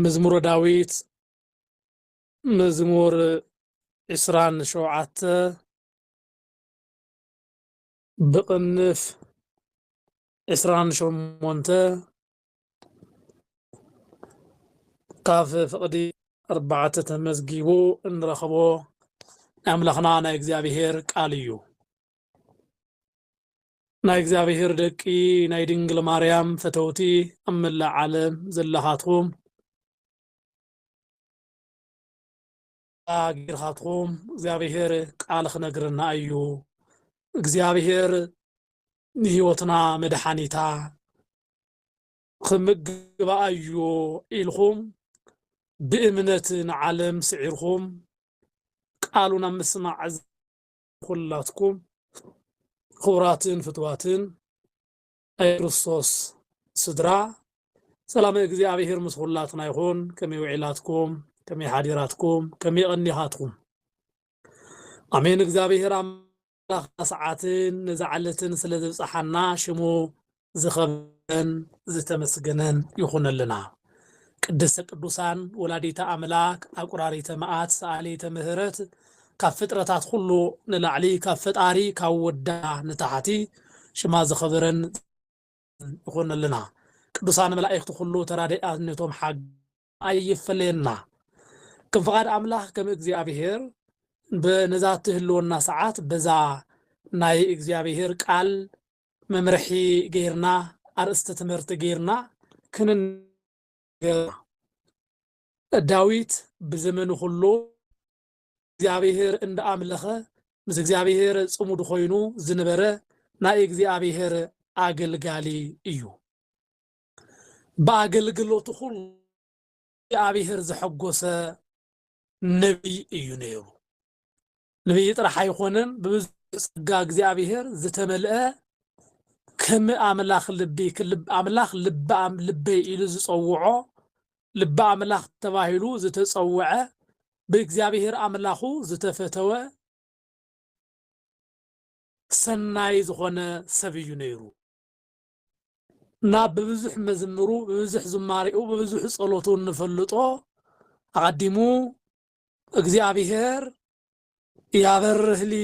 መዝሙረ ዳዊት መዝሙር ዕስራን ሸውዓተ ብቕንፍ ዕስራን ሸሞንተ ካብ ፍቕዲ ኣርባዕተ ተመዝጊቡ እንረኽቦ ናይ ኣምላኽና ናይ እግዚኣብሄር ቃል እዩ። ናይ እግዚኣብሔር ደቂ ናይ ድንግል ማርያም ፈተውቲ ኣብ መላእ ዓለም ዘለኻትኩም ጌርኻትኩም እግዚኣብሔር ቃል ክነግረና እዩ እግዚኣብሔር ንህይወትና መድሓኒታ ክምግባ እዩ ኢልኩም ብእምነት ንዓለም ስዒርኩም ቃሉን ኣብ ምስማዕ ኩላትኩም ክቡራትን ፍትዋትን ናይ ክርስቶስ ስድራ ሰላመ እግዚኣብሔር ምስ ኩላትና ይኹን። ከመይ ውዒላትኩም? ከመይ ሓዲራትኩም? ከመይ ቐኒኻትኩም? ኣሜን። እግዚኣብሔር ኣምላኽና ሰዓትን ነዛ ዕለትን ስለ ዘብጽሓና ሽሙ ዝኸበረን ዝተመስገነን ይኹነልና ቅድስተ ቅዱሳን ወላዲተ ኣምላክ ኣቁራሪተ መኣት ሰኣሊተ ምህረት ካብ ፍጥረታት ኩሉ ንላዕሊ ካብ ፈጣሪ ካብ ወዳ ንታሕቲ ሽማ ዝኸበረን ይኹነልና ቅዱሳን መላእክቲ ኩሉ ተራዳኢነቶም ሓግ ኣይፈለየና ከም ፍቃድ ኣምላኽ ከም እግዚኣብሔር ብ ነዛ ትህልወና ሰዓት በዛ ናይ እግዚኣብሔር ቃል መምርሒ ገይርና ኣርእስቲ ትምህርቲ ገይርና ክንነገርና ዳዊት ብዘመኑ ኩሉ እግዚኣብሔር እንደ ኣምለኸ ምስ እግዚኣብሔር ጽሙድ ኮይኑ ዝነበረ ናይ እግዚኣብሔር ኣገልጋሊ እዩ ብኣገልግሎቱ ኹሉ እግዚኣብሔር ዘሐጎሰ ነቢይ እዩ ነይሩ። ነቢይ ጥራሕ ኣይኾነን፣ ብብዙሕ ጸጋ እግዚኣብሔር ዝተመልአ ከም ኣምላኽ ልቢ ኣምላኽ ልቢ ልበይ ኢሉ ዝጸውዖ ልቢ ኣምላኽ ተባሂሉ ዝተጸውዐ ብእግዚኣብሔር ኣምላኹ ዝተፈተወ ሰናይ ዝኾነ ሰብ እዩ ነይሩ። እና ብብዙሕ መዝምሩ ብብዙሕ ዝማሬኡ ብብዙሕ ጸሎቱ እንፈልጦ ኣቐዲሙ እግዚኣብሔር ያበርህ ሊ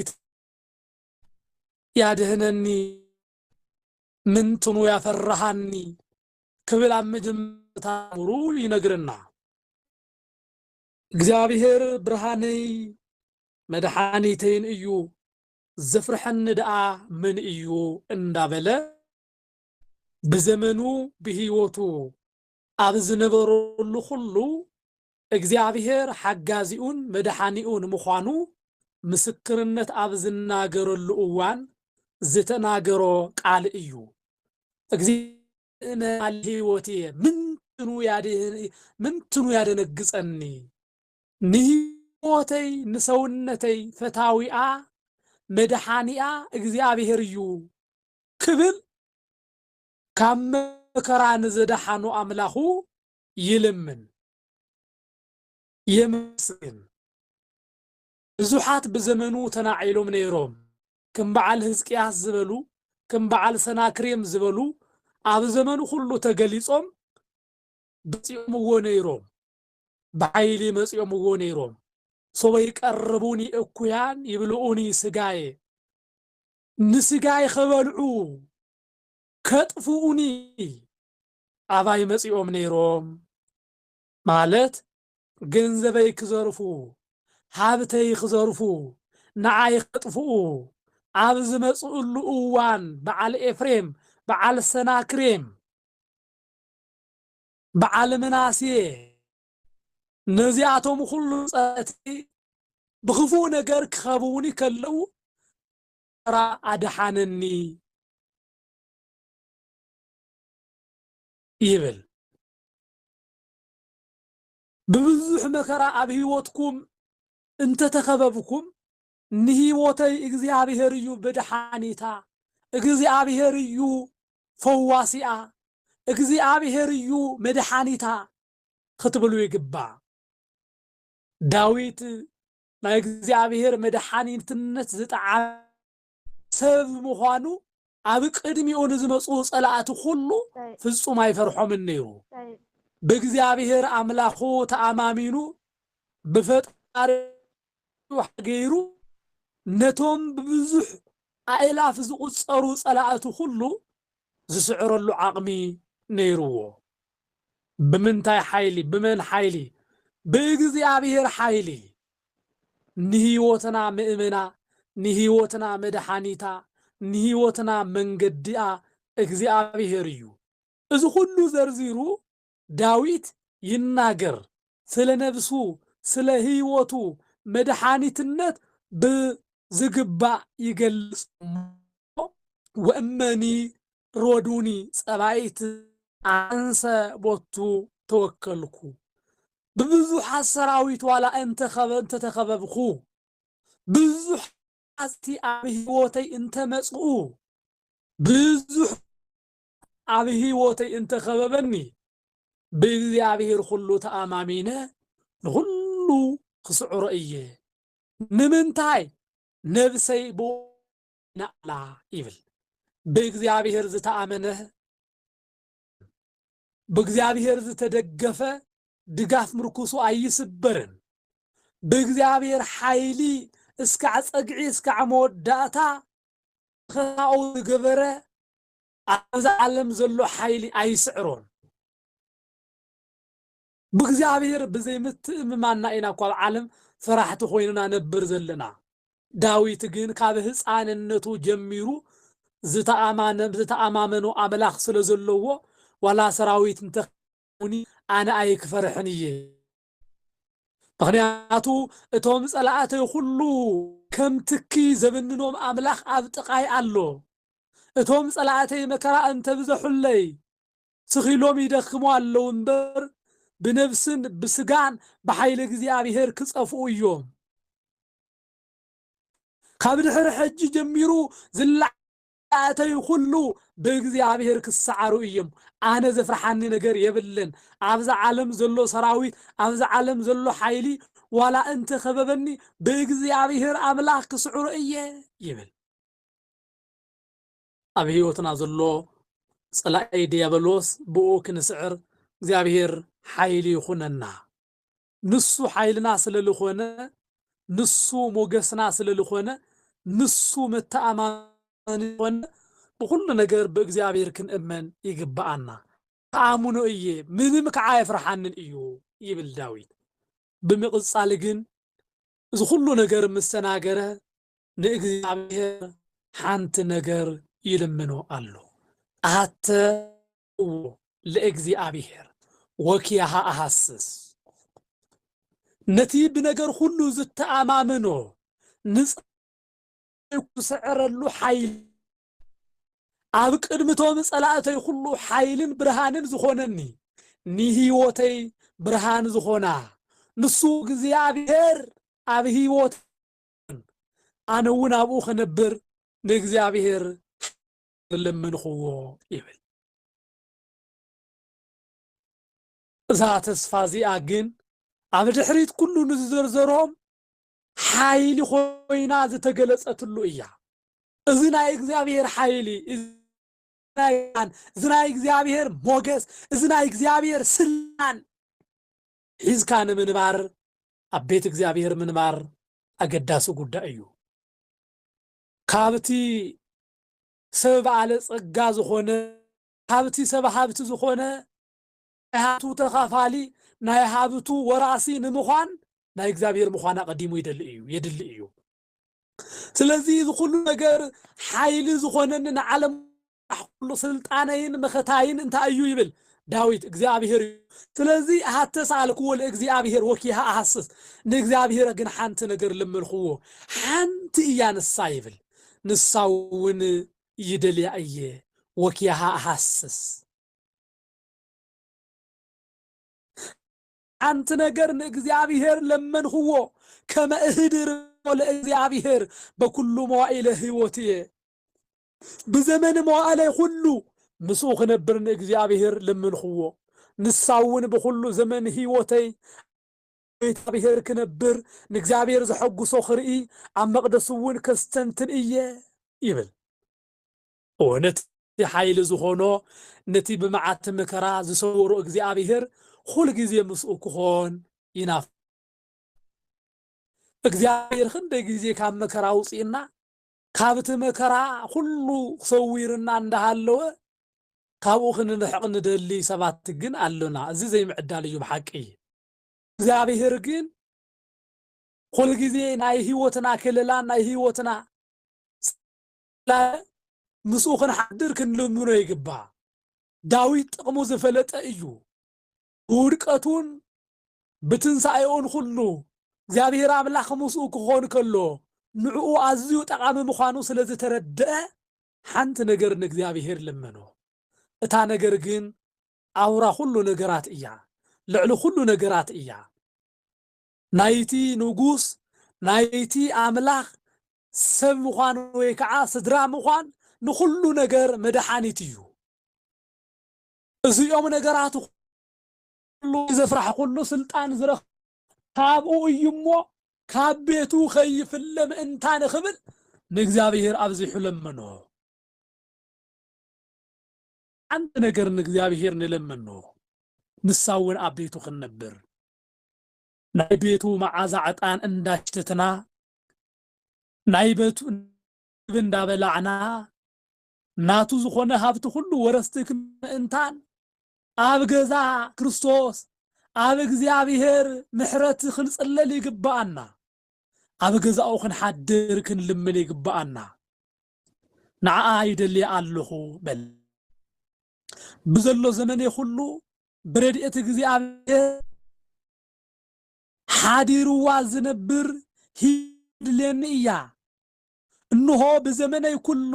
ያድህነኒ ምንትኑ ያፈራሃኒ ክብል ኣብ መጀመርታ ምሩ ይነግረና። እግዚኣብሔር ብርሃነይ መድሓኒተይን እዩ ዘፍርሐኒ ደኣ መን እዩ እንዳበለ ብዘመኑ ብህይወቱ ኣብ ዝነበረሉ ኩሉ እግዚኣብሔር ሓጋዚኡን መድሓኒኡን ምዃኑ ምስክርነት ኣብ ዝናገረሉ እዋን ዝተናገሮ ቃል እዩ። እምነ ቃል ሕይወትየ ምንትኑ ያደነግጸኒ። ንህይወተይ ንሰውነተይ ፈታዊኣ መድሓኒኣ እግዚኣብሔር እዩ ክብል ካብ መከራ ንዘድሓኖ ኣምላኹ ይልምን የመስግን። ብዙሓት ብዘመኑ ተናዒሎም ነይሮም ክም በዓል ህዝቅያስ ዝበሉ ክም በዓል ሰናክሬም ዝበሉ ኣብ ዘመኑ ኩሉ ተገሊጾም በጺኦምዎ ነይሮም። ብኃይሊ መጺኦምዎ ነይሮም። ሶበ ይቀርቡኒ እኩያን ይብልዑኒ ሥጋየ፣ ንሥጋይ ኸበልዑ ከጥፍኡኒ ኣባይ መጺኦም ነይሮም፣ ማለት ገንዘበይ ክዘርፉ፣ ሃብተይ ክዘርፉ፣ ንኣይ ከጥፍኡ ኣብ ዝመጽእሉ እዋን በዓል ኤፍሬም በዓል ሰናክሬም፣ በዓል ምናሴ ነዚኣቶም ዅሉ ጸላእቲ ብኽፉእ ነገር ኪኸብቡኒ ከለዉ ተራ ኣድሓነኒ ይብል። ብብዙሕ መከራ ኣብ ህይወትኩም እንተ ተኸበብኩም ንህይወተይ እግዚኣብሄር እዩ መድሓኒታ፣ እግዚኣብሄር እዩ ፈዋሲኣ፣ እግዚኣብሄር እዩ መድሓኒታ ኽትብሉ ይግባእ። ዳዊት ናይ እግዚኣብሄር መድሓኒትነት ዝጠዓመ ሰብ ምዃኑ ኣብ ቅድሚኡ ንዝመጽኡ ጸላእቲ ዅሉ ፍጹም ኣይፈርሖምን ነይሩ። ብእግዚኣብሄር ኣምላኹ ተኣማሚኑ ብፈጣሪኡ ሓገዝ ገይሩ ነቶም ብብዙሕ ኣእላፍ ዝቝጸሩ ጸላእቱ ዅሉ ዝስዕረሉ ዓቕሚ ነይርዎ። ብምንታይ ሓይሊ? ብመን ሓይሊ? ብእግዚኣብሄር ሓይሊ! ንህይወትና ምእመና፣ ንህይወትና መድሓኒታ፣ ንህይወትና መንገዲኣ እግዚኣብሔር እዩ። እዚ ኹሉ ዘርዚሩ ዳዊት ይናገር ስለ ነብሱ ስለ ህይወቱ መድሓኒትነት ብዝግባእ ይገልጽ እሞ ወእመኒ ሮዱኒ ጸባኢት ኣንሰ ቦቱ ተወከልኩ ብብዙሓት ሰራዊት ዋላ እንተተኸበብኩ ብዙሕ ኣዝቲ ኣብ ህይወተይ እንተመጽኡ ብዙሕ ኣብ ህይወተይ እንተኸበበኒ ብእግዚኣብሔር ኩሉ ተኣማሚነ ንኹሉ ክስዕሮ እየ ንምንታይ ነብሰይ ብኡ ነኣላ ይብል ብእግዚኣብሔር ዝተኣመነ ብእግዚኣብሔር ዝተደገፈ ድጋፍ ምርኩሱ ኣይስበርን ብእግዚኣብሔር ሓይሊ እስካዕ ፀግዒ እስካዕ መወዳእታ ኸታኡ ዝገበረ ኣብዚ ዓለም ዘሎ ሓይሊ ኣይስዕሮን ብእግዚኣብሔር ብዘይምትእምማንና ኢና እኳ ኣብ ዓለም ፈራሕቲ ኮይንና ነብር ዘለና። ዳዊት ግን ካብ ህፃንነቱ ጀሚሩ ዝተኣማመኖ ኣምላኽ ስለ ዘለዎ ዋላ ሰራዊት እንተ ከቢቡኒ ኣነ ኣይክፈርሕን እየ ምኽንያቱ እቶም ፀላእተይ ኩሉ ከም ትኪ ዘብንኖም ኣምላኽ ኣብ ጥቃይ ኣሎ እቶም ፀላእተይ መከራ እንተብዘሑለይ ትኽ ኢሎም ይደክሙ ኣለዉ እምበር፣ ብነብስን ብስጋን ብሓይሊ እግዚኣብሄር ክጸፍኡ እዮም። ካብ ድሕሪ ሕጂ ጀሚሩ ዝለኣተዩ ኩሉ ብእግዚኣብሄር ክሰዓሩ እዮም። ኣነ ዘፍርሓኒ ነገር የብለን። ኣብዛ ዓለም ዘሎ ሰራዊት፣ ኣብዛ ዓለም ዘሎ ሓይሊ ዋላ እንተ ከበበኒ ብእግዚኣብሄር ኣምላኽ ክስዕሮ እየ ይብል። ኣብ ሕይወትና ዘሎ ጸላኢ ድያበሎስ ብእኡ ክንስዕር እግዚኣብሔር ኃይሊ ይኹነና። ንሱ ኃይልና ስለ ልኾነ ንሱ ሞገስና ስለ ልኾነ ንሱ መተኣማመኒ ዝኾነ ብኹሉ ነገር ብእግዚኣብሔር ክንእመን ይግብኣና። እኣምኖ እየ ምንም ከዓ ኣየፍርሓንን እዩ ይብል ዳዊት። ብምቕጻል ግን እዚ ኹሉ ነገር ምስ ተናገረ ንእግዚኣብሔር ሓንቲ ነገር ይልምኖ ኣሎ ኣሃተዎ ለእግዚኣብሔር ወኪያሃ ኣሃስስ ነቲ ብነገር ሁሉ ዝተኣማምኖ ንጻይ ክስዕረሉ ሓይል ኣብ ቅድምቶም ጸላእተይ ኩሉ ሓይልን ብርሃንን ዝኾነኒ ንህይወተይ ብርሃን ዝኾና ንሱ እግዚኣብሔር ኣብ ህይወት ኣይተረፈን። ኣነ እውን ኣብኡ ክነብር ንእግዚኣብሔር ለመንኹዎ ይብል። እዛ ተስፋ እዚኣ ግን ኣብ ድሕሪት ኩሉ ንዝዘርዘሮም ሓይሊ ኮይና ዝተገለጸትሉ እያ። እዚ ናይ እግዚኣብሔር ሓይሊ እዚ ናይ እግዚኣብሔር ሞገስ እዚ ናይ እግዚኣብሔር ስልጣን ሒዝካ ንምንባር ኣብ ቤት እግዚኣብሔር ምንባር ኣገዳሲ ጉዳይ እዩ። ካብቲ ሰብ በዓለ ጸጋ ዝኾነ ካብቲ ሰብ ሃብቲ ዝኾነ ናይ ሃብቱ ተኻፋሊ ናይ ሃብቱ ወራሲ ንምዃን ናይ እግዚኣብሔር ምዃን ኣቐዲሙ ይደሊ እዩ የድሊ እዩ። ስለዚ እዚ ኩሉ ነገር ሓይሊ ዝኾነኒ ንዓለም ራእይ ኹሉ ሥልጣነይን መኸታይን እንታይ እዩ ይብል ዳዊት እግዚኣብሔር እዩ ስለዚ ሃተ ሰኣልክዎ ለእግዚኣብሔር ወኪሃ ኣሃስስ ንእግዚኣብሔር ግን ሓንቲ ነገር ለመንክዎ ሓንቲ እያ ንሳ ይብል ንሳውን ይደልያ እየ ወኪሃ ኣሃስስ ሓንቲ ነገር ንእግዚኣብሔር ለመንክዎ ከመ እህድር ለእግዚኣብሔር በኩሉ መዋኢለ ህይወት እየ ብዘመን መዋእለይ ዅሉ ምስኡ ኽነብር ንእግዚኣብሄር ለመንኽዎ። ንሳ እውን ብዅሉ ዘመን ህይወተይ ኣብ ቤት እግዚኣብሄር ክነብር፣ ንእግዚኣብሄር ዘሐጕሶ ኽርኢ፣ ኣብ መቕደሱ እውን ከስተንትን እየ ይብል። እወ፣ ነቲ ሓይሊ ዝዀኖ ነቲ ብመዓቲ መከራ ዝሰወሮ እግዚኣብሄር ዅሉ ግዜ ምስኡ ክዀን ይናፍቕ። እግዚኣብሄር ኽንደይ ግዜ ካብ መከራ ኣውጺኡና? ካብቲ መከራ ኩሉ ሰዊርና እንዳሃለወ ካብኡ ክንርሕቅ ንደሊ ሰባት ግን ኣሎና እዚ ዘይምዕዳል እዩ ብሓቂ እግዚኣብሄር ግን ኩሉ ግዜ ናይ ህይወትና ክለላን ናይ ህይወትና ጽላለን ምስኡ ክንሓድር ክንልምኖ ይግባእ ዳዊት ጥቅሙ ዝፈለጠ እዩ ብውድቀቱን ብትንሳኤኡን ኹሉ እግዚኣብሔር ኣምላኽ ምስኡ ክኾን ከሎ ንዕኡ ኣዝዩ ጠቓሚ ምዃኑ ስለ ዝተረደኣ ሓንቲ ነገር ንእግዚኣብሔር ለመኖ። እታ ነገር ግን ኣውራ ኹሉ ነገራት እያ፣ ልዕሊ ኹሉ ነገራት እያ። ናይቲ ንጉስ ናይቲ ኣምላኽ ሰብ ምዃን ወይ ከዓ ስድራ ምዃን ንኹሉ ነገር መድሓኒት እዩ። እዚኦም ነገራት ኩሉ ዘፍራሕኩሉ ስልጣን ዝረኽ ካብኡ እዩ እሞ ካብ ቤቱ ከይፍለ ምእንታ ንኽብል ንእግዚኣብሔር ኣብዚሑ ለመኖ። ሓንቲ ነገር ንእግዚኣብሔር ንለመኖ ንሳ እውን ኣብ ቤቱ ክንነብር ናይ ቤቱ መዓዛ ዕጣን እንዳሽተትና ናይ ቤቱ እንዳበላዕና ናቱ ዝኾነ ሃብቲ ኩሉ ወረስቲ ምእንታን ኣብ ገዛ ክርስቶስ ኣብ እግዚኣብሔር ምሕረት ክንጽለል ይግብኣና። ኣብ ገዛኡ ክንሓድር ክንልምን ይግብኣና። ንዓኣ ይደልያ ኣለኹ በል። ብዘሎ ዘመኔ ኩሉ ብረድኤት እግዚኣብሔር ሓዲርዋ ዝነብር ህይወት ትድልየኒ እያ። እንሆ ብዘመነይ ኵሉ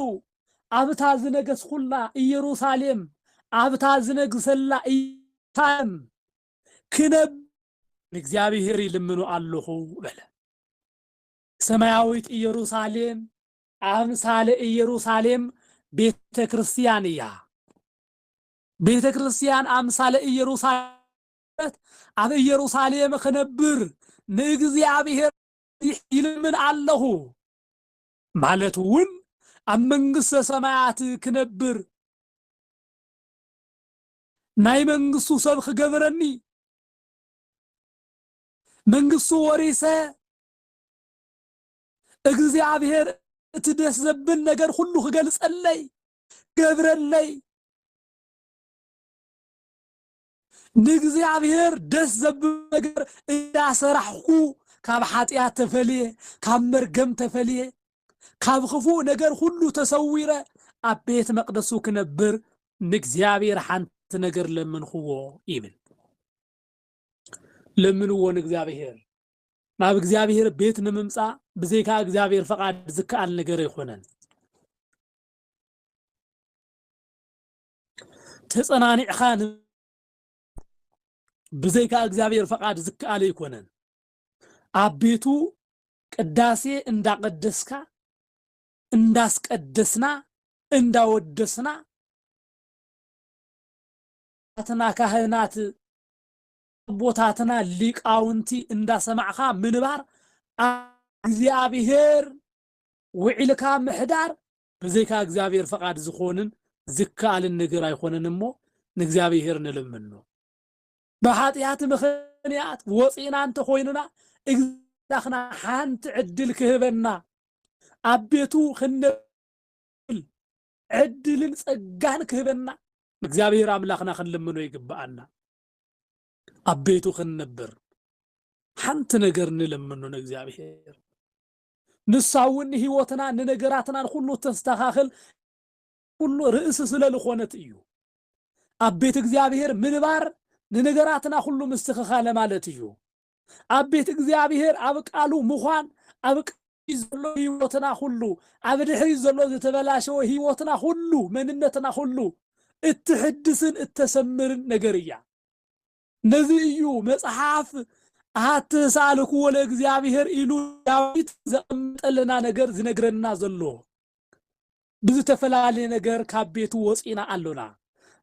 ኣብታ ዝነገስኩላ ኢየሩሳሌም ኣብታ ዝነግሰላ ኢየሩሳሌም ክነብር ንእግዚኣብሔር ይልምኖ ኣሎኹ በለ። ሰማያዊት ኢየሩሳሌም ኣምሳለ ኢየሩሳሌም ቤተ ክርስቲያን እያ። ቤተ ክርስቲያን ኣምሳለ ኢየሩሳሌም ኣብ ኢየሩሳሌም ክነብር ንእግዚኣብሔር ይልምን ኣለኹ ማለት እውን ኣብ መንግስተ ሰማያት ክነብር ናይ መንግስቱ ሰብ ክገብረኒ መንግስቱ ወሪሰ እግዚኣብሔር እቲ ደስ ዘብል ነገር ሁሉ ክገልጸለይ ገብረለይ ንእግዚኣብሔር ደስ ዘብል ነገር እንዳሰራሕኩ ካብ ሓጢኣት ተፈልየ፣ ካብ መርገም ተፈልየ፣ ካብ ክፉእ ነገር ሁሉ ተሰዊረ ኣብ ቤት መቅደሱ ክነብር ንእግዚኣብሔር ሓንቲ ነገር ለመንክዎ ይብል። ለምንዎ ንእግዚኣብሔር ናብ እግዚኣብሔር ቤት ንምምፃእ ብዘይካ እግዚኣብሔር ፈቃድ ዝከኣል ነገር ኣይኮነን። ተጸናኒዕኻ ን ብዘይካ እግዚኣብሔር ፈቃድ ዝከኣል ኣይኮነን። ኣብ ቤቱ ቅዳሴ እንዳቀደስካ እንዳስቀደስና እንዳወደስና ኣትና ካህናት ኣቦታትና ሊቃውንቲ እንዳሰማዕኻ ምንባር እግዚኣብሔር ውዒልካ ምሕዳር ብዘይካ እግዚኣብሔር ፈቓድ ዝኾንን ዝከኣልን ነገር ኣይኾነን እሞ ንእግዚኣብሔር ንልምኖ። ብኃጢኣት ምኽንያት ወፂእና እንተኾይንና እግዚኣኽና ሓንቲ ዕድል ክህበና ኣብ ቤቱ ክንነብል ዕድልን ጸጋን ክህበና ንእግዚኣብሔር ኣምላኽና ክንልምኖ ይግብኣና። ኣብ ቤቱ ክንነብር ሓንቲ ነገር ንለምኖ ንእግዚኣብሔር። ንሳ እውን ንህይወትናን ንነገራትናን ዅሉ እተስተኻኽል ኵሉ ርእሲ ስለ ልኾነት እዩ። ኣብ ቤት እግዚኣብሔር ምንባር ንነገራትና ዅሉ ምስትኽኻለ ማለት እዩ። ኣብ ቤት እግዚኣብሔር ኣብ ቃሉ ምዃን ኣብ ቃሉ ዘሎ ህይወትና ዅሉ ኣብ ድሕሪት ዘሎ ዝተበላሸወ ህይወትና ዅሉ መንነትና ዅሉ እትሕድስን እተሰምርን ነገር እያ። ነዚ እዩ መጽሓፍ ኣሃቲ ሳልክዎ ለእግዚኣብሔር ኢሉ ዳዊት ዘቐመጠልና ነገር ዝነግረና ዘሎ። ብዝተፈላለየ ነገር ካብ ቤቱ ወፂና ኣሎና።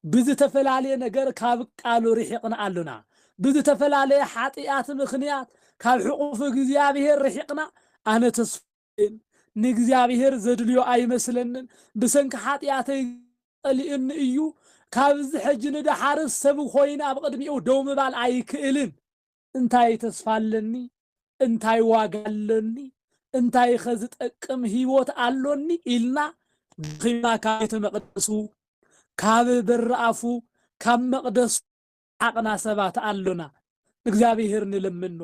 ብዝተፈላለየ ነገር ካብ ቃሉ ርሒቕና ኣሎና። ብዝተፈላለየ ሓጢኣት ምክንያት ካብ ሕቑፍ እግዚኣብሔር ርሒቕና ኣነ ተስፋ ግን ንእግዚኣብሔር ዘድልዮ ኣይመስለንን ብሰንኪ ሓጥያተይ ጸሊኡኒ እዩ ካብዚ ሕጂ ንደሓርስ ሰብ ኾይነ ኣብ ቕድሚኡ ደው ምባል ኣይክእልን እንታይ ተስፋ ኣለኒ እንታይ ዋጋ ኣሎኒ እንታይኸ ዝጠቅም ሕይወት ኣሎኒ ኢልና ደኺምና ካብ ቤተ መቕደሱ ካብ በሪ ኣፉ ካብ መቕደሱ ሓቕና ሰባት ኣሎና እግዚኣብሔር ንለምኖ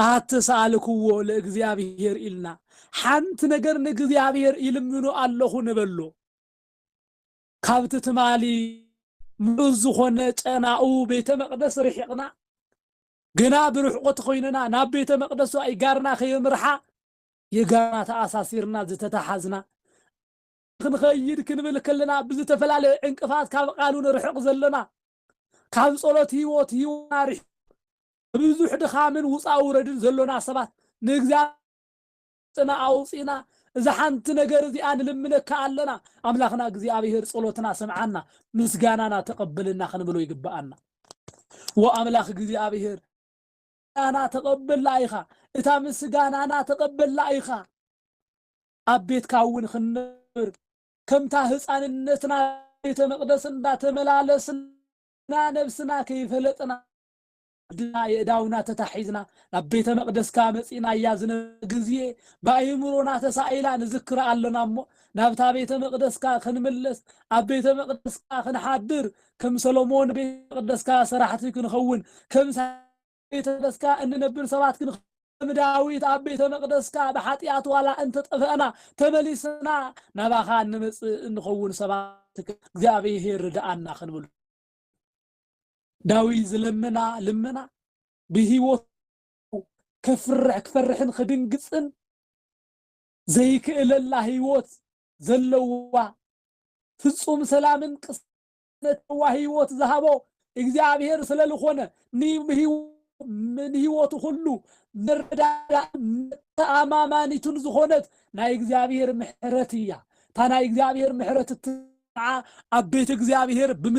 ኣሐቲ ሰኣልክዎ ለእግዚኣብሔር ኢልና ሓንቲ ነገር ንእግዚኣብሔር ይልምኖ ኣለኹ ንበሎ ካብቲ ትማሊ ምሉእ ዝኾነ ጨናኡ ቤተ መቅደስ ርሒቕና ግና ብርሕቆ ተኾይንና ናብ ቤተ መቅደሱ ኣይጋርና ከየምርሓ የጋርና ተኣሳሲርና ዝተተሓዝና ክንኸይድ ክንብል ከለና ብዝተፈላለየ ዕንቅፋት ካብ ቃሉ ንርሕቕ ዘለና ካብ ጸሎት ህይወት ህይወትና ርሒቁ ብብዙሕ ድኻምን ውጻ ውረድን ዘሎና ሰባት ንእግዚኣብሔር ጽና ኣውጺእና እዛ ሓንቲ ነገር እዚኣ ንልምነካ ኣለና ኣምላኽና እግዚኣብሔር ጸሎትና ስምዓና ምስጋናና ተቐበልና ክንብሎ ይግብኣና ወኣምላኽ እግዚኣብሔር ምስጋና ተቐበላ ኢኻ እታ ምስጋናና ተቐበላ ኢኻ ኣብ ቤትካ እውን ክንነብር ከምታ ህፃንነትና ቤተ መቅደስ እንዳተመላለስና ነብስና ከይፈለጥና ኣድና የእዳውና ተታሒዝና ናብ ቤተ መቅደስካ መፂእና እያ ዝነበረ ግዜ ብኣይምሮና ተሳኢላ ንዝክራ ኣለና እሞ ናብታ ቤተ መቅደስካ ክንምለስ ኣብ ቤተ መቅደስካ ክንሓድር ከም ሰሎሞን ቤተ መቅደስካ ሰራሕቲ ክንኸውን ከም ቤተ መቅደስካ እንነብር ሰባት ግን ከም ዳዊት ኣብ ቤተ መቅደስካ ብሓጢኣት ዋላ እንተጠፈእና ተመሊስና ናባኻ እንመጽእ እንኸውን ሰባት እግዚኣብሔር ርድኣና ክንብል ዳዊት ዝለምና ልመና ብህይወት ከፍርሕ ክፈርሕን ክድንግጽን ዘይክእለላ ህይወት ዘለዋ ፍጹም ሰላምን ቅስ ነተዋ ሕይወት ዝሃቦ እግዚኣብሔር ስለልኾነ ንሕይወቱ ኹሉ መረዳዳእን መተኣማማኒቱን ዝኾነት ናይ እግዚኣብሔር ምሕረት እያ። እታ ናይ እግዚኣብሔር ምሕረት እትሰምዓ ኣብ ቤት እግዚኣብሔር ብም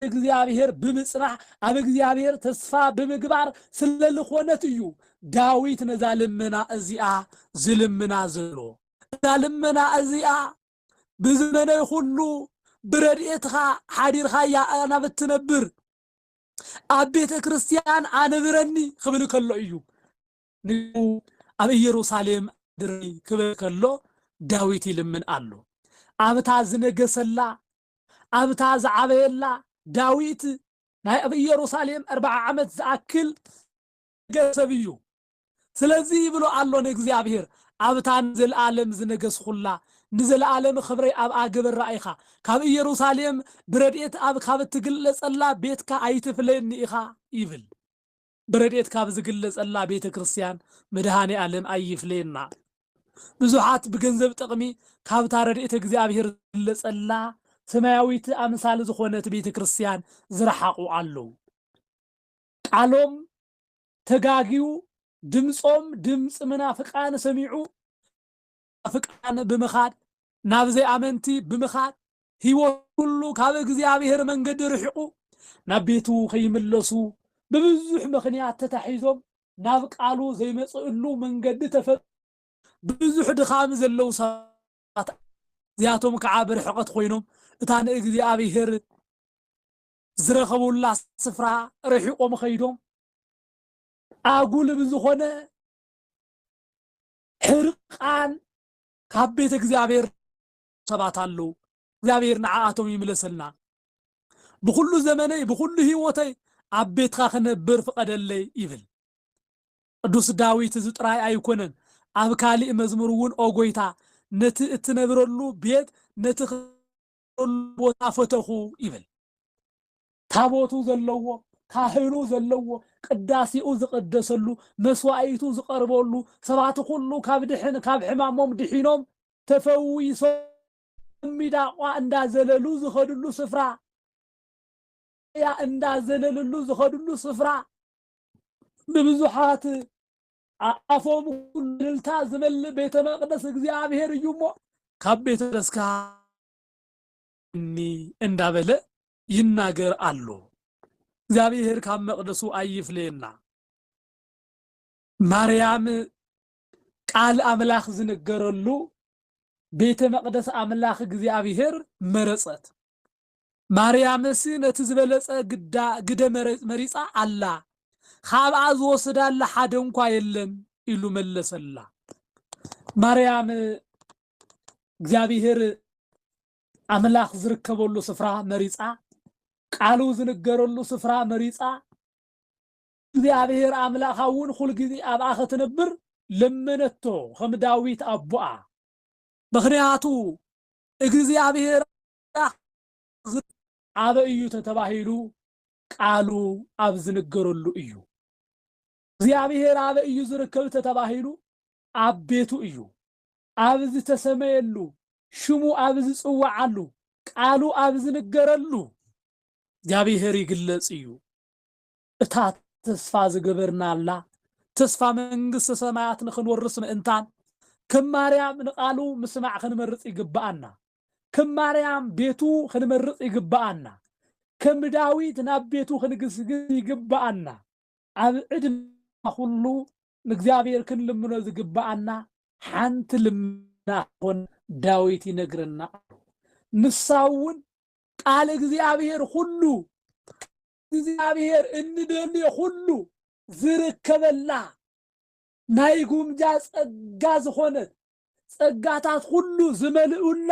እግዚኣብሔር ብምጽናሕ ኣብ እግዚኣብሔር ተስፋ ብምግባር ስለልኾነት እዩ ዳዊት ነዛ ልመና እዚኣ ዝልምና ዘሎ እዛ ልመና እዚኣ ብዝመነይ ኹሉ ብረድኤትኻ ሓዲርኻያ ኣናብት ትነብር ኣብ ቤተ ክርስቲያን ኣንብረኒ ክብል ከሎ እዩ ንኡ ኣብ ኢየሩሳሌም ኣድርኒ ክብል ከሎ ዳዊት ይልምን ኣሎ ኣብታ ዝነገሰላ ኣብታ ዝዓበየላ ዳዊት ናይ ኣብ ኢየሩሳሌም ኣርባዓ ዓመት ዝኣክል ዝነገሰ ሰብ እዩ። ስለዚ ይብሎ ኣሎ ንእግዚኣብሔር፣ ኣብታ ንዘለኣለም ዝነገስኹላ፣ ንዘለኣለም ኽብረይ ኣብኣ ግበራ ኢኻ፣ ካብ ኢየሩሳሌም ብረድኤት ኣብ ካብ እትግለጸላ ቤትካ ኣይትፍለየኒ ኢኻ ይብል። ብረድኤት ካብ ዝግለጸላ ቤተ ክርስቲያን መድኃኔ ዓለም ኣይፍለየና። ብዙኃት ብገንዘብ ጥቕሚ ካብታ ረድኤተ እግዚኣብሔር ዝግለጸላ ሰማያዊት ኣምሳል ዝኾነት ቤተ ክርስቲያን ዝረሓቑ ኣለዉ። ቃሎም ተጋግዩ ድምጾም ድምጺ መናፍቃን ሰሚዑ መናፍቃን ብምኻድ ናብ ዘይኣመንቲ ብምኻድ ሕይወቱ ኩሉ ካብ እግዚኣብሔር መንገዲ ርሒቁ ናብ ቤቱ ከይምለሱ ብብዙሕ ምኽንያት ተታሒዞም ናብ ቃሉ ዘይመጽእሉ መንገዲ ተፈ ብብዙሕ ድኻም ዘለዉ ሰባት እዚኣቶም ከዓ ብርሕቐት ኮይኖም እታ ንእግዚኣብሔር ዝረኸቡላ ስፍራ ርሒቆም ኸይዶም ኣጉል ብዝኾነ ሕርቃን ካብ ቤተ እግዚኣብሔር ሰባት ኣለዉ። እግዚኣብሔር ንዓኣቶም ይምለሰልና። ብኹሉ ዘመነይ ብኹሉ ህይወተይ ኣብ ቤትካ ክነብር ፍቐደለይ ይብል ቅዱስ ዳዊት እዚ ጥራይ ኣይኮነን ኣብ ካሊእ መዝሙር እውን ኦ ጎይታ ነቲ እትነብረሉ ቤት ነቲ ዝነበረሉ ቦታ ፈተኹ ይብል። ታቦቱ ዘለዎ፣ ካህኑ ዘለዎ፣ ቅዳሴኡ ዝቐደሰሉ፣ መስዋኢቱ ዝቐርበሉ፣ ሰባት ኩሉ ካብ ድሕን ካብ ሕማሞም ድሒኖም ተፈዊሶም ሚዳቋ እንዳዘለሉ ዝኸድሉ ስፍራ ያ እንዳዘለልሉ ዝኸድሉ ስፍራ ንብዙሓት ኣፎም ኹሉ እልልታ ዝመልእ ቤተ መቅደስ እግዚኣብሔር እዩ እሞ ካብ ቤተ መቅደስካ እኒ እንዳበለ ይናገር ኣሎ። እግዚኣብሔር ካብ መቅደሱ ኣይፍለየና። ማርያም ቃል ኣምላኽ ዝንገረሉ ቤተ መቅደስ ኣምላኽ እግዚኣብሔር መረጸት። ማርያምስ ነቲ ዝበለጸ ግዳ ግደ መሪጻ ኣላ፣ ኻብኣ ዝወስዳላ ሓደ እንኳ የለን ኢሉ መለሰላ። ማርያም እግዚኣብሔር ኣምላኽ ዝርከበሉ ስፍራ መሪጻ፣ ቃሉ ዝንገረሉ ስፍራ መሪጻ፣ እግዚኣብሔር ኣምላኻ እውን ኩል ጊዜ ኣብኣ ኸትነብር ለመነቶ ኸም ዳዊት ኣቦኣ። ምኽንያቱ እግዚኣብሔር ኣምላኽ ዝርድኦ ኣበይ እዩ ተተባሂሉ ቃሉ ኣብ ዝንገረሉ እዩ። እግዚኣብሔር ኣበይ እዩ ዝርከብ ተተባሂሉ ኣብ ቤቱ እዩ። ኣብ ዝተሰመየሉ ሽሙ ኣብ ዝጽወዓሉ ቃሉ ኣብ ዝንገረሉ እግዚኣብሔር ይግለጽ እዩ። እታ ተስፋ ዝገበርናላ ተስፋ መንግስተ ሰማያት ንክንወርስ ምእንታን ከም ማርያም ንቃሉ ምስማዕ ክንመርጽ ይግብኣና። ከም ማርያም ቤቱ ኽንመርጽ ይግብኣና፣ ከም ዳዊት ናብ ቤቱ ኽንግስግስ ይግብኣና፣ ኣብ ዕድመና ዅሉ ንእግዚኣብሄር ክንልምኖ ዝግብኣና ሓንቲ ልመና ኽትኰን ዳዊት ይነግረና ኣሎ። ንሳ እውን ቃል እግዚኣብሄር ዅሉ ቃል እግዚኣብሄር እንደልዮ ዅሉ ዝርከበላ ናይ ጉምጃ ጸጋ ዝኾነት ጸጋታት ኹሉ ዝመልኡላ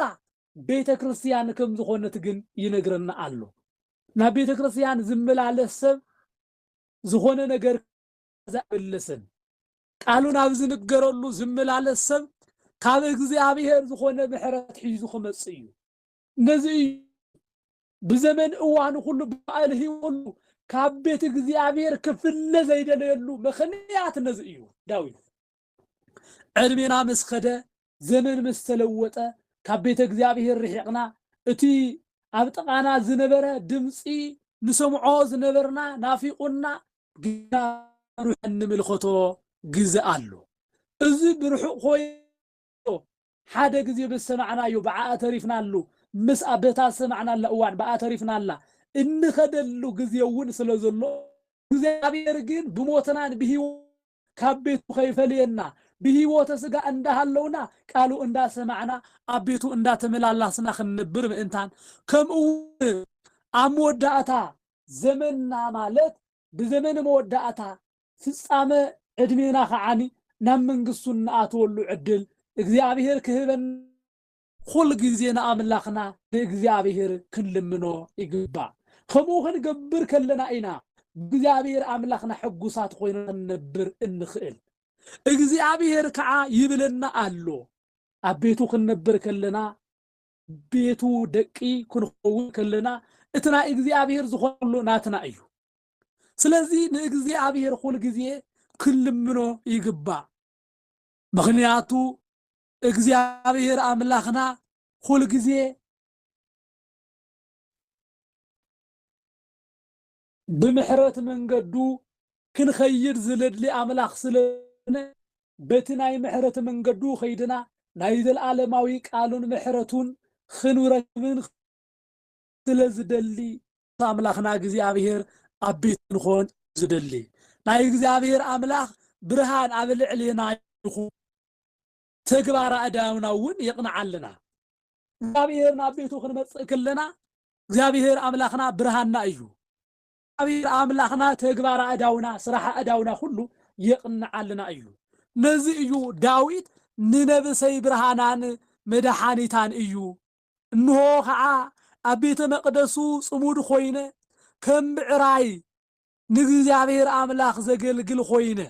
ቤተ ክርስቲያን ከም ዝኾነት ግን ይነግረና ኣሎ። ናብ ቤተ ክርስቲያን ዝመላለስ ሰብ ዝኾነ ነገር ዘበለሰን ቃሉ ናብ ዝንገረሉ ዝመላለስ ሰብ ካብ እግዚኣብሔር ዝኾነ ምሕረት ሒዙ ክመጽእ እዩ። ነዚ እዩ ብዘመን እዋኑ ኩሉ ብኣል ህይወሉ ካብ ቤት እግዚኣብሔር ክፍለ ዘይደለየሉ ምክንያት ነዚ እዩ ዳዊት ዕድሜና ምስ ከደ ዘመን ምስ ተለወጠ ካብ ቤተ እግዚኣብሔር ርሒቕና እቲ ኣብ ጥቓና ዝነበረ ድምፂ ንሰምዖ ዝነበርና ናፊቑና ግና ሩሕ ንምልከቶ ግዘ ኣሎ እዚ ብርሑቕ ኮይ ርእዮ ሓደ ግዜ በዝሰማዕናዮ ብዓኣ ተሪፍናሉ ምስ ኣብ በታ ዝሰማዕናላ እዋን ብኣ ተሪፍናላ እንኸደሉ ግዜ እውን ስለ ዘሎ እግዚኣብሔር ግን ብሞትናን ብሕይወት ካብ ቤቱ ከይፈለየና ብሕይወተ ሥጋ እንዳሃለውና ቃሉ እንዳሰማዕና ኣብ ቤቱ እንዳተመላላስና ክንነብር ምእንታን ከምኡውን ኣብ መወዳእታ ዘመንና ማለት ብዘመነ መወዳእታ ፍጻመ ዕድሜና ከኣ ናብ መንግስቱ እንኣትወሉ ዕድል እግዚኣብሄር ክህበና። ኹል ግዜ ንኣምላኽና ንእግዚኣብሄር ክንልምኖ ይግባእ። ከምኡ ክንገብር ከለና ኢና ብእግዚኣብሄር ኣምላኽና ሕጉሳት ኾይና ክንነብር እንኽእል። እግዚኣብሄር ከኣ ይብለና ኣሎ ኣብ ቤቱ ክንነብር ከለና ቤቱ ደቂ ክንኸውን ከለና እቲ ናይ እግዚኣብሄር ዝኾነ ኩሉ ናትና እዩ። ስለዚ ንእግዚኣብሔር ኩል ግዜ ክንልምኖ ይግባእ ምክንያቱ እግዚኣብሔር ኣምላክና ኩል ግዜ ብምሕረት መንገዱ ክንኸይድ ዝለድሊ ኣምላኽ ስለነ በቲ ናይ ምሕረት መንገዱ ኸይድና ናይ ዘለዓለማዊ ቃሉን ምሕረቱን ኽንረክብን ስለ ዝደሊ ኣምላኽና እግዚኣብሔር ኣብ ቤት ክንኾን ዝደሊ ናይ እግዚኣብሔር ኣምላኽ ብርሃን ኣብ ልዕሌና ይኹን ተግባር ኣእዳውና እውን የቕንዓልና እግዚኣብሔር ናብ ቤቱ ክንመጽእ ክለና እግዚኣብሔር ኣምላኽና ብርሃንና እዩ እግዚኣብሔር ኣምላኽና ተግባር ኣእዳውና ስራሕ ኣእዳውና ኩሉ የቕንዓልና እዩ ነዚ እዩ ዳዊት ንነብሰይ ብርሃናን መድሓኒታን እዩ እንሆ ኸዓ ኣብ ቤተ መቅደሱ ጽሙድ ኾይነ ከም ብዕራይ ንእግዚኣብሔር ኣምላኽ ዘገልግል ኾይነ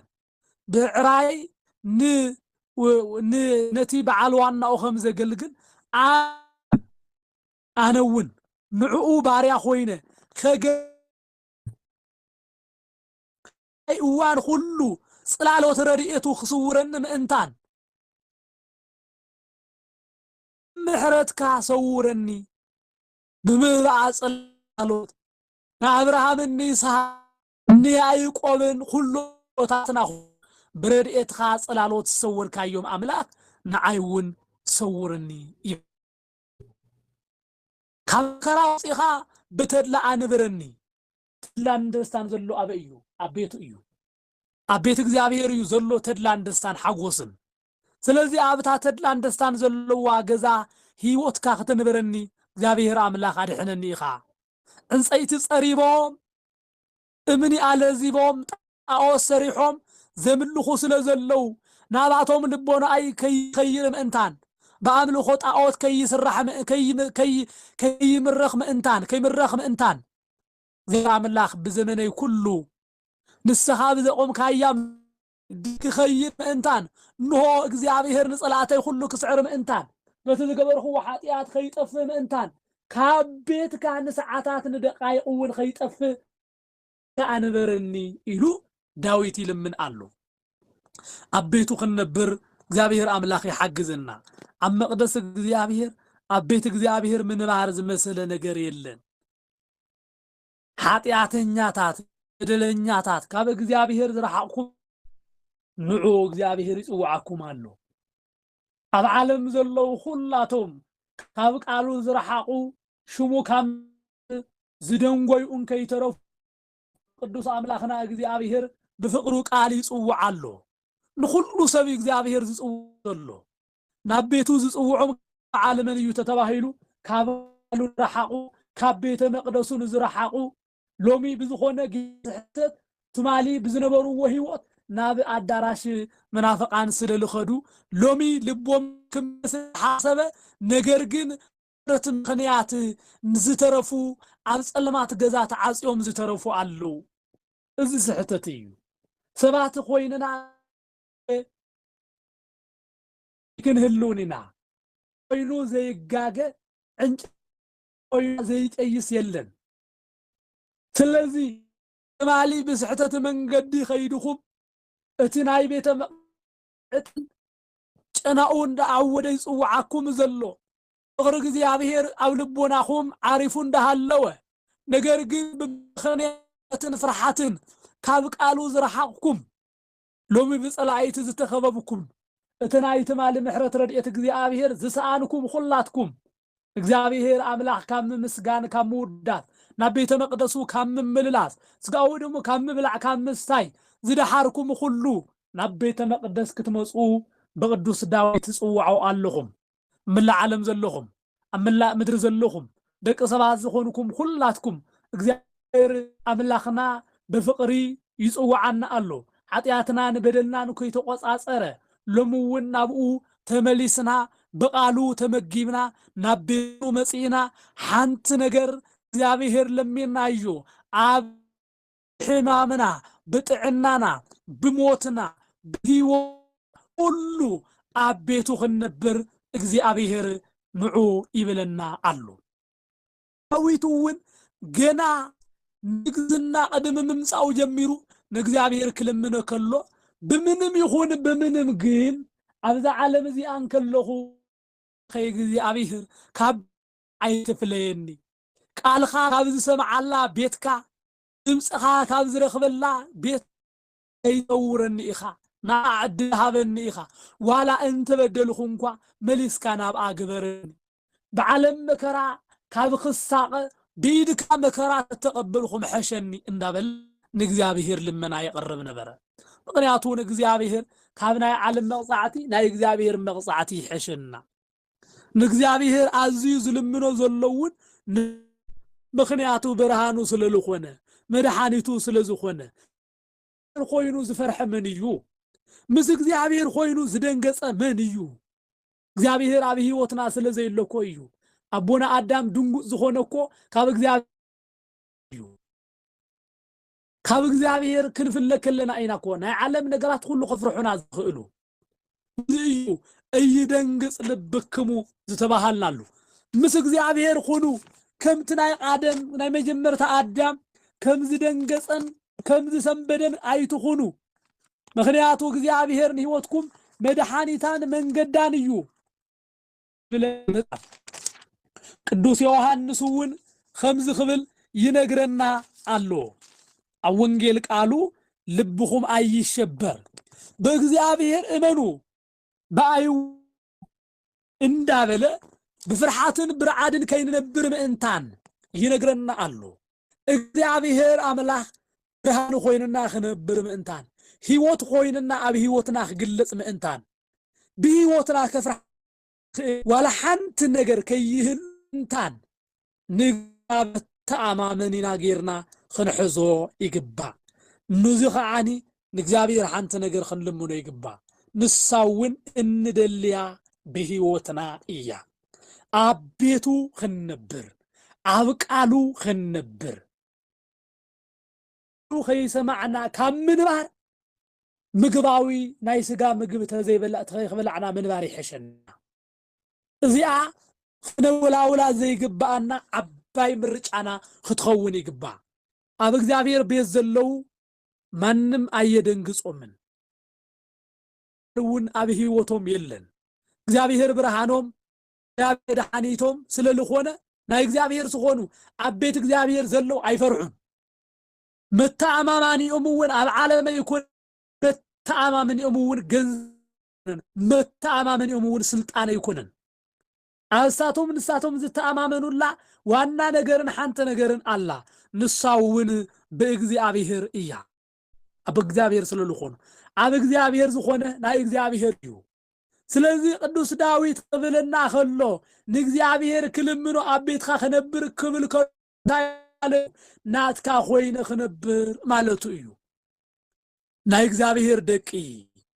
ብዕራይ ን ን ነቲ በዓል ዋናኡ ከም ዘገልግል ኣነ ኣነውን ንዕኡ ባርያ ኾይነ ከገ ናይ እዋን ኹሉ ጽላሎት ረድኤቱ ክስውረኒ ምእንታን ምሕረትካ ሰውረኒ ብምብኣ ጽላሎት ንኣብርሃምን ንይስሃቅን ንያእቆብን ኩሎ ኣቦታትና ኩን ብረድኤትካ ጽላሎት ዝሰወርካዮም ኣምላክ ንዓይ ውን ሰውርኒ ይብል ካብ መከራ ኣውጺእካ ብተድላ ኣንብረኒ። ተድላን ደስታን ዘሎ ኣበይ እዩ ኣብ ቤቱ እዩ። ኣብ ቤት እግዚኣብሔር እዩ ዘሎ ተድላን ደስታን ሓጎስን ስለዚ ኣብ እታ ተድላን ደስታን ዘለዋ ገዛ ህይወትካ ክተንበረኒ እግዚኣብሔር ኣምላክ ኣድሕነኒ ኢካ ዕንፀይቲ ፀሪቦም እምኒ ኣለዚቦም ጣኦት ሰሪሖም ዘምልኩ ስለ ዘለው ናባቶም ልቦናኣይ ከይኸይር ምእንታን ብኣምልኮ ጣኦት ከይስራሕ ከይምረኽ ምእንታን ከይምረኽ ምእንታን እግዚኣብሔር ኣምላክ ብዘመነይ ኩሉ ንስኻ ብዘቖምካያ መንገዲ ክኸይድ ምእንታን፣ እንሆ፣ እግዚኣብሄር ንጸላእተይ ዅሉ ክስዕር ምእንታን፣ በቲ ዝገበርኽዎ ሓጢኣት ኸይጠፍእ ምእንታን፣ ካብ ቤትካ ንሰዓታት ንደቓይቕውን ኸይጠፍእ፣ ከኣ ንበረኒ ኢሉ ዳዊት ይልምን ኣሎ። ኣብ ቤቱ ክንነብር እግዚኣብሄር ኣምላኽ ይሓግዘና። ኣብ መቕደስ እግዚኣብሄር፣ ኣብ ቤት እግዚኣብሄር ምንባር ዝመሰለ ነገር የለን። ሓጢኣተኛታት በደለኛታት ካብ እግዚኣብሔር ዝረሓቕኩም ንዑ እግዚኣብሔር ይጽውዓኩም ኣሎ። ኣብ ዓለም ዘለዉ ኹላቶም ካብ ቃሉ ዝረሓቑ ሽሙ ካብ ዝደንጎዩ እንከይተረፉ ቅዱስ ኣምላኽና እግዚኣብሔር ብፍቕሩ ቃል ይጽውዓ ኣሎ። ንኹሉ ሰብ እግዚኣብሔር ዝጽውዕ ዘሎ ናብ ቤቱ ዝጽውዖም በዓል መን እዩ ተተባሂሉ ካብ በዓሉ ንረሓቑ ካብ ቤተ መቅደሱ ንዝረሓቑ ሎሚ ብዝኾነ ጊዜ ዝሕተት ትማሊ ብዝነበርዎ ሕይወት ናብ ኣዳራሽ መናፍቃን ስለ ልኸዱ ሎሚ ልቦም ክምለስ ሓሰበ ነገር ግን ብረት ምኽንያት ንዝተረፉ ኣብ ጸልማት ገዛ ተዓጽዮም ዝተረፉ ኣለዉ እዚ ስሕተት እዩ ሰባት ኮይንና ክንህልውን ኢና ኦይሉ ዘይጋገ ዕንጨ ኦይሉ ዘይጠይስ የለን ስለዚ ትማሊ ብስሕተት መንገዲ ከይድኹም እቲ ናይ ቤተ መቅደስ ጨናኡ እንዳዓወደ ይጽውዓኩም ዘሎ ፍቅሪ እግዚኣብሔር ኣብ ልቦናኹም ዓሪፉ እንዳሃለወ ነገር ግን ብምኽንያትን ፍርሓትን ካብ ቃሉ ዝረሓቅኩም ሎሚ ብጸላኢቲ ዝተኸበብኩም እቲ ናይ ትማሊ ምሕረት ረድኤት እግዚኣብሔር ዝሰኣንኩም ኹላትኩም እግዚኣብሔር ኣምላኽ ካብ ምምስጋን ካብ ምውዳስ ናብ ቤተ መቅደሱ ካብ ምምልላስ ስጋኡ ደሙ ካብ ምብላዕ ካብ ምስታይ ዝደሓርኩም ኹሉ ናብ ቤተ መቅደስ ክትመጹ ብቅዱስ ዳዊት ትጽውዓው ኣለኹም። ኣብ መላእ ዓለም ዘለኹም ኣብ መላእ ምድሪ ዘለኹም ደቂ ሰባት ዝኾንኩም ኹላትኩም እግዚኣብሔር ኣምላኽና ብፍቕሪ ይጽውዓና ኣሎ ሓጢኣትናን በደልናን ከይተቆጻጸረ ሎሚ እውን ናብኡ ተመሊስና ብቃሉ ተመጊብና ናብ ቤቱ መጺእና ሓንቲ ነገር እግዚኣብሔር ለሚናዮ ኣብ ብሕማምና፣ ብጥዕናና፣ ብሞትና፣ ብህይወትና ኩሉ ኣብ ቤቱ ክንነብር እግዚኣብሔር ንዑ ይብለና ኣሎ። ዳዊት እውን ገና ንግስና ቅድሚ ምምጻኡ ጀሚሩ ንእግዚኣብሔር ክልምኖ ከሎ ብምንም ይኹን ብምንም ግን ኣብዛ ዓለም እዚኣ እንከለኹ ኣምላኸይ እግዚኣብሔር ካብ ኣይትፍለየኒ፣ ቃልኻ ካብ ዝሰምዓላ ቤትካ ድምጽኻ ካብ ዝረኽበላ ቤት ከይተውረኒ ኢኻ ናብኣ ዕድል ሃበኒ ኢኻ ዋላ እንተበደልኹ እንኳ መሊስካ ናብኣ ግበረኒ ብዓለም መከራ ካብ ኽሳቐ ብኢድካ መከራ ተተቐበልኹ ምሐሸኒ እንዳበለ ንእግዚኣብሔር ልመና የቕርብ ነበረ ምኽንያቱ ንእግዚኣብሔር ካብ ናይ ዓለም መቕጻዕቲ ናይ እግዚኣብሔር መቕጻዕቲ ይሐሸና ንእግዚኣብሔር ኣዝዩ ዝልምኖ ዘለውን ምክንያቱ ብርሃኑ ስለ ዝኾነ መድሓኒቱ ስለ ዝኾነ ኮይኑ ዝፈርሐ መን እዩ? ምስ እግዚኣብሔር ኮይኑ ዝደንገጸ መን እዩ? እግዚኣብሔር ኣብ ህይወትና ስለ ዘይሎ እኮ እዩ። ኣቦና ኣዳም ድንጉጽ ዝኾነ እኮ ካብ እግዚኣብሔር እዩ። ካብ እግዚኣብሔር ክንፍለ ከለና ኢና እኮ ናይ ዓለም ነገራት ኩሉ ከፍርሑና ዝኽእሉ። እዚ እዩ እይደንግጽ ልብክሙ ዝተባሃልናሉ። ምስ እግዚኣብሔር ኩኑ ከምቲ ናይ ቃደም ናይ መጀመርታ ኣዳም ከም ዝደንገጸን ከም ዝሰንበደን ኣይትኹኑ። ምክንያቱ እግዚኣብሔር ንህይወትኩም መድሓኒታን መንገዳን እዩ። ብለን መጽሓፍ ቅዱስ ዮሐንስ እውን ኸምዚ ክብል ይነግረና ኣሎ ኣብ ወንጌል ቃሉ ልብኹም ኣይሸበር በእግዚኣብሔር እመኑ ብኣይ እንዳበለ ብፍርሓትን ብርዓድን ከይንነብር ምእንታን ይነግረና ኣሎ እግዚኣብሄር ኣምላኽ ብርሃን ኾይኑና ክነብር ምእንታን፣ ህይወት ኾይኑና ኣብ ህይወትና ክግለጽ ምእንታን፣ ብህይወትና ከፍርሓ ዝኽእል ዋላ ሓንቲ ነገር ከይህሉ ምእንታን ንእግዚኣብሄር ተኣማመኒና ጌርና ክንሕዞ ይግባእ። ኑዚ ኸዓኒ ንእግዚኣብሔር ሓንቲ ነገር ክንልምኖ ይግባእ ንሳ እውን እንደልያ ብሕይወትና እያ ኣብ ቤቱ ክንነብር ኣብ ቃሉ ክንነብር ከይሰማዕና ካብ ምንባር ምግባዊ ናይ ስጋ ምግቢ ተዘይበላዕና ምንባር ይሐሸና እዚኣ ክነወላውላ ዘይግባኣና ዓባይ ምርጫና ክትኸውን ይግባእ ኣብ እግዚኣብሔር ቤት ዘለዉ ማንም ኣየደንግጾምን እውን ኣብ ህይወቶም የለን እግዚኣብሔር ብርሃኖም እግዚኣብሔር መድሓኒቶም ስለ ዝኾነ ናይ እግዚኣብሔር ዝኾኑ ኣብ ቤት እግዚኣብሔር ዘለው ኣይፈርሑን መተኣማማኒኦም እውን ኣብ ዓለመ ይኮን መተኣማመኒኦም እውን ገንዘብ መተኣማመኒኦም እውን ስልጣን ኣይኮነን ኣንስታቶም ንሳቶም ዝተኣማመኑላ ዋና ነገርን ሓንቲ ነገርን ኣላ ንሳውን ብእግዚኣብሄር እያ። ኣብ እግዚኣብሄር ስለልኾኑ ኣብ እግዚኣብሄር ዝኾነ ናይ እግዚኣብሄር እዩ። ስለዚ ቅዱስ ዳዊት ክብለና ከሎ ንእግዚኣብሄር ክልምኖ ኣብ ቤትካ ክነብር ክብል ከሎ እንታይ ማለቱ ናትካ ኮይነ ክነብር ማለቱ እዩ። ናይ እግዚኣብሄር ደቂ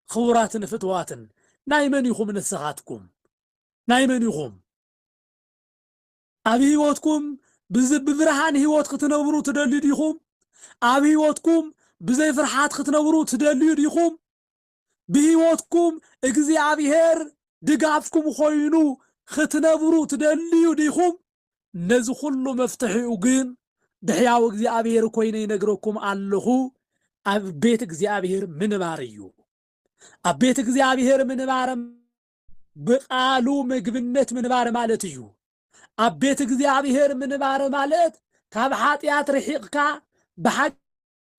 ክቡራትን ፍትዋትን ናይ መን ኢኹም ንስኻትኩም? ናይ መን ኢኹም? ኣብ ህይወትኩም ብዝ ብብርሃን ህይወት ክትነብሩ ትደልዩ ዲኹም? ኣብ ህይወትኩም ብዘይ ፍርሓት ክትነብሩ ትደልዩ ዲኹም? ብህይወትኩም እግዚኣብሔር ድጋፍኩም ኾይኑ ኽትነብሩ ትደልዩ ዲኹም? ነዚ ኹሉ መፍትሒኡ ግን ብሕያው እግዚኣብሔር ኮይነ ይነግረኩም ኣለኹ ኣብ ቤት እግዚኣብሔር ምንባር እዩ። ኣብ ቤት እግዚኣብሔር ምንባር ብቃሉ ምግብነት ምንባር ማለት እዩ። ኣብ ቤት እግዚኣብሔር ምንባር ማለት ካብ ሓጢኣት ርሒቕካ ብሓቂ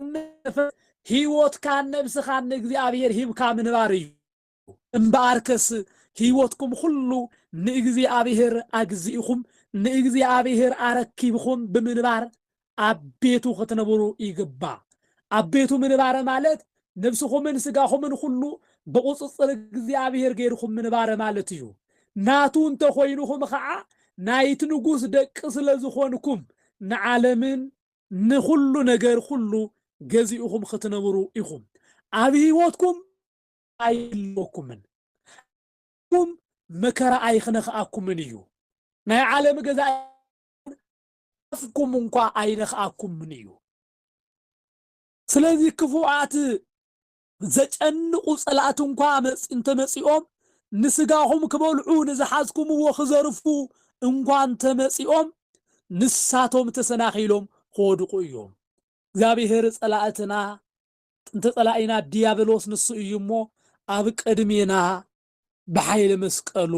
መንፈስ ሕይወትካን ነብስኻን ንእግዚኣብሔር ሂብካ ምንባር እዩ። እምበኣርከስ ሕይወትኩም ኹሉ ንእግዚኣብሔር ኣግዚእኹም ንእግዚኣብሔር ኣረኪብኹም ብምንባር ኣብ ቤቱ ክትነብሩ ይግባ። ኣብ ቤቱ ምንባረ ማለት ነብስኹምን ስጋኹምን ኹሉ ብቁጽጽር እግዚኣብሔር ገይርኩም ምንባረ ማለት እዩ። ናቱ እንተ ኾይንኹም ኸዓ ናይት ንጉስ ደቂ ስለ ዝኾንኩም ንዓለምን ንኹሉ ነገር ኹሉ ገዚእኹም ኽትነብሩ ኢኹም። ኣብ ሕይወትኩም ኣይህልወኩምን። ኣብኩም መከራ ኣይኽነኽኣኩምን እዩ። ናይ ዓለም ገዛኢ ኣፍኩም እኳ ኣይነኽኣኩምን እዩ። ስለዚ ክፉኣት ዘጨንቑ ጸላእቲ እንኳ እንተመጺኦም፣ ንስጋኹም ክበልዑ ንዝሓዝኩምዎ ክዘርፉ እንኳ እንተመጺኦም፣ ንሳቶም ተሰናኺሎም ክወድቑ እዮም። እግዚኣብሄር ጸላእትና፣ ጥንቲ ጸላኢና ድያብሎስ ንሱ እዩ እሞ፣ ኣብ ቅድሜና ብሓይሊ መስቀሉ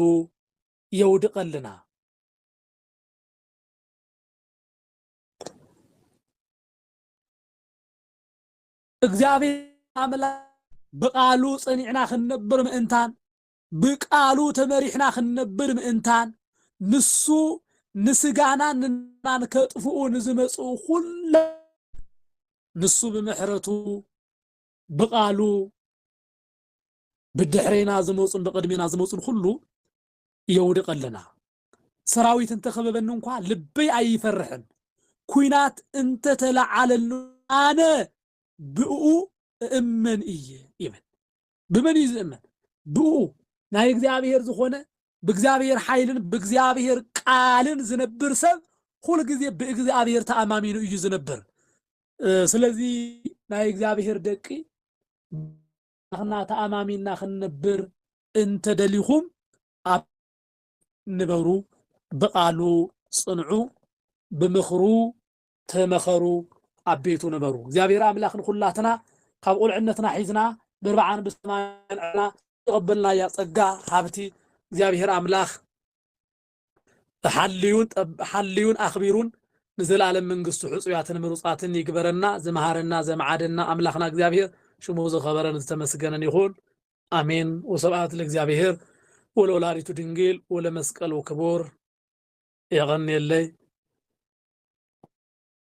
የውድቐልና። እግዚኣብሔር ኣምላኽ ብቃሉ ጽኒዕና ክንነብር ምእንታን ብቃሉ ተመሪሕና ክንነብር ምእንታን ንሱ ንስጋናን ንናን ከጥፍኡ ንዝመጽኡ ኩለ ንሱ ብምሕረቱ ብቃሉ ብድሕሬና ዝመጹን ብቅድሜና ዝመጹን ኩሉ የውድቐልና። ሰራዊት እንተ ከበበኒ እንኳ ልበይ ኣይፈርሕን፣ ኲናት እንተ ተለዓለሉ ኣነ ብእኡ እእመን እየ ይብል። ብመን እዩ ዝእመን? ብእኡ ናይ እግዚኣብሔር ዝኾነ ብእግዚኣብሔር ሓይልን ብእግዚኣብሔር ቃልን ዝነብር ሰብ ኩል ግዜ ብእግዚኣብሔር ተኣማሚኑ እዩ ዝነብር። ስለዚ ናይ እግዚኣብሔር ደቂ ኣምላኽና ተኣማሚንና ክንነብር እንተ ደሊኹም ኣብ ንበሩ፣ ብቓሉ ጽንዑ፣ ብምኽሩ ተመኸሩ፣ ኣብ ቤቱ ንበሩ። እግዚኣብሔር ኣምላኽ ንኹላትና ካብ ቁልዕነትና ሒዝና ብርብዓን ብሰማያን ዕልና ዝተቐበልናያ ጸጋ ሃብቲ እግዚኣብሔር ኣምላኽ ብሓልዩን ጠብ ሓልዩን ኣኽቢሩን ንዘልኣለም መንግስቱ ሕጹያትን ምሩጻትን ይግበረና ዝመሃረና ዘምዓደና ኣምላኽና እግዚኣብሔር ሽሙ ዝኸበረን ዝተመስገነን ይኹን ኣሜን ወስብኣት ለእግዚኣብሔር ወለወላዲቱ ድንግል ወለመስቀሉ ክቡር የቐንየለይ